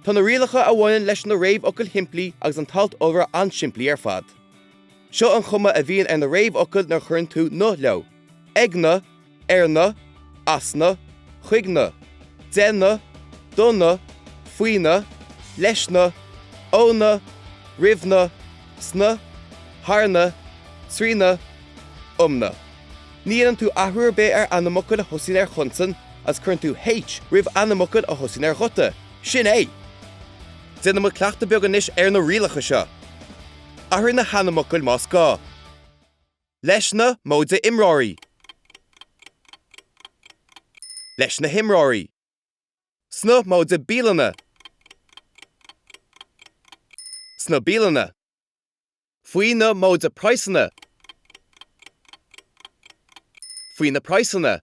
Tá na rialacha a bhaineann leis na réamhfhocail shimplí agus an t-alt iolra an-simplí ar fad. Seo an chuma a bhíonn ar na réamhfhocail nuair a chuireann tú 'na' leo, ag na, ar na, as na, chuig na, de na, do na, faoi na, leis na, ó na, roimh na, sna, thar na, trí na, um na. Ní dhéanann tú athrú ar bith ar ainmfhocail a thosaíonn ar chonsan agus cuireann tú H roimh ainmfhocail a thosaíonn ar ghuta, sin é! Déanfaidh muid cleachtadh beag anois ar na rialacha seo. Athraigh na hainmfhocail más gá. Leis na móide imreoirí. Leis na himreoirí. Sna móide bialanna. Sna bialanna. Faoi na móide praghsanna. Faoi na praghsanna.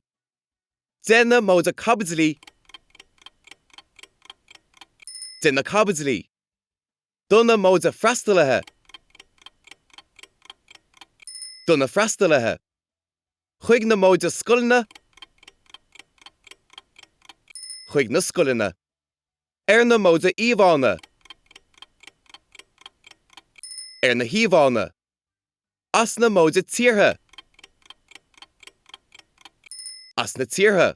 De na móide caibidlí. De na caibidlí. do na móide freastalaithe do na freastalaithe chuig na móide scoileanna chuig na scoileanna ar na móide íomhánna ar na híomhánna as na móide tíortha as na tíortha.